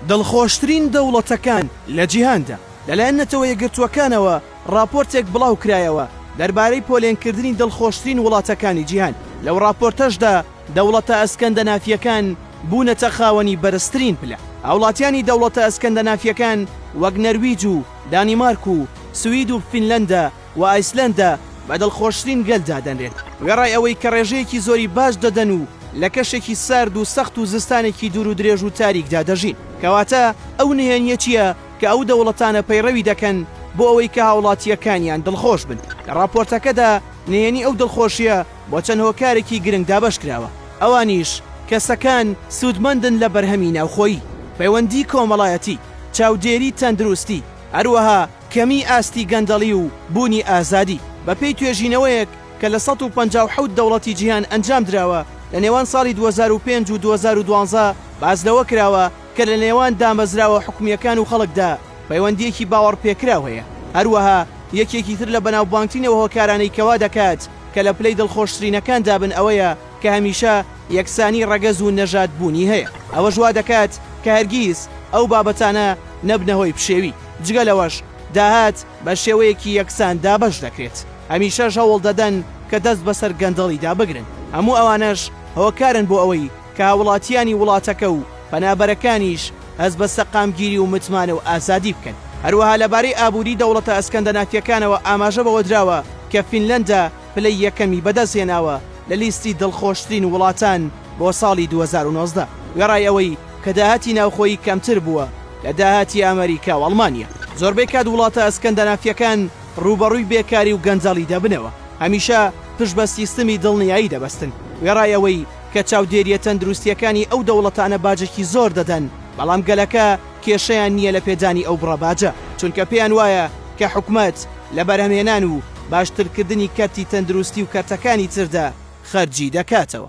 دڵخۆشترین دەوڵەتەکان لە جیهاندا، لەلایەن نەتەوە یەکگرتووەکانەوە ڕاپۆرتێک بڵاوکرایەوە دەربارەی پۆلێنکردنی دڵخۆشترین وڵاتەکانی جیهان، لەو ڕاپۆرتەشدا دەوڵەتە ئەسکەندەنافییەکان بوونەتە خاوەنی بەرزترین پلە. هاوڵاتیانی دەوڵەتە ئەسکەندەنافییەکان وەک نەرویج و دانیمارک و سوید و فینلەندا، و ئایسلەندا بە دڵخۆشترین گەل دادەنرێت، وێڕای ئەوەی کە ڕێژەیەکی زۆری باج دەدەن و لە کەشێکی سارد و سەخت و زستانێکی دوور و درێژ و تاریکدا دەژین. کەواتە ئەو نهێنییە چییە کە ئەو دەوڵەتانە پەیڕەوی دەکەن بۆ ئەوەی کە هاوڵاتییەکانیان دڵخۆش بن؟ لە ڕاپۆرتەکەدا نهێنی ئەو دڵخۆشییە بۆ چەند هۆکارێکی گرنگ دابەش کراوە، ئەوانیش. کەسەکان سوودمەندن لە بەرهەمی ناوخۆیی، پەیوەندی کۆمەڵایەتی، چاودێری تەندروستی، هەروەها. کەمیی ئاستی گەندەڵی و بوونی ئازادی. بەپێی توێژینەوەیەک کە لە سەد و پەنجا و حەوت دەوڵەتی جیهان ئەنجام دراوە، لە نێوان ساڵی دوو هەزار و پێنج و دوو هەزار و دوازدە باس لەوە کراوە کە لە نێوان دامەزراوە حکومییەکان و خەڵکدا پەیوەندییەکی باوەڕپێکراو هەیە. هەروەها یەکێکی تر لە بەناوبانگترین ئەو هۆکارانەی کە وا دەکات کە لە پلەی دڵخۆشترینەکاندا بن ئەوەیە، کە هەمیشە یەکسانی ڕەگەز و نەژاد بوونی هەیە، ئەوەش وا دەکات کە هەرگیز ئەو بابەتانە نەبنە هۆی پشێوی، جگە لەوەش داهات بە شێوەیەکی یەکسان دابەش دەکرێت، هەمیشەش هەوڵ دەدەن کە دەست بەسەر گەندەڵیدا بگرن، هەموو ئەوانەش هۆکارن بۆ ئەوەی کە هاووڵاتییانی وڵاتەکە و پەنابەرەکانیش هەست بە سەقامگیری و متمانە و ئازادی بکەن. هەروەها لەبارەی ئابووری دەوڵەتە ئەسکەندەنافییەکانەوە ئاماژە بەوە دراوە کە فینلەندا، پلەی یەکەمی بەدەستهێناوە لە لیستی دڵخۆشترین وڵاتان بۆ ساڵی دوو هەزار و نۆزدە، وێڕای ئەوەی کە داهاتی ناوخۆیی کەمتر بووە لە داهاتی ئەمەریکا و ئەڵمانیا. زۆربەی کات وڵاتە ئەسکەندەنافییەکان ڕووبەڕووی بێکاری و گەندەڵی دەبنەوە، هەمیشە پشت بە سیستمی دڵنیایی دەبەستن، وێڕای ئەوەی کە چاودێرییە تەندروستییەکانی ئەو دەوڵەتانە باجێکی زۆر دەدەن، بەڵام گەلەکە کێشەیان نییە لە پێدانی ئەو بڕە باجە، چونکە پێیان وایە کە حکومەت لە بەرهەمهێنان و باشترکردنی کەرتی تەندروستی و کەرتەکانی تردا خەرجی دەکاتەوە.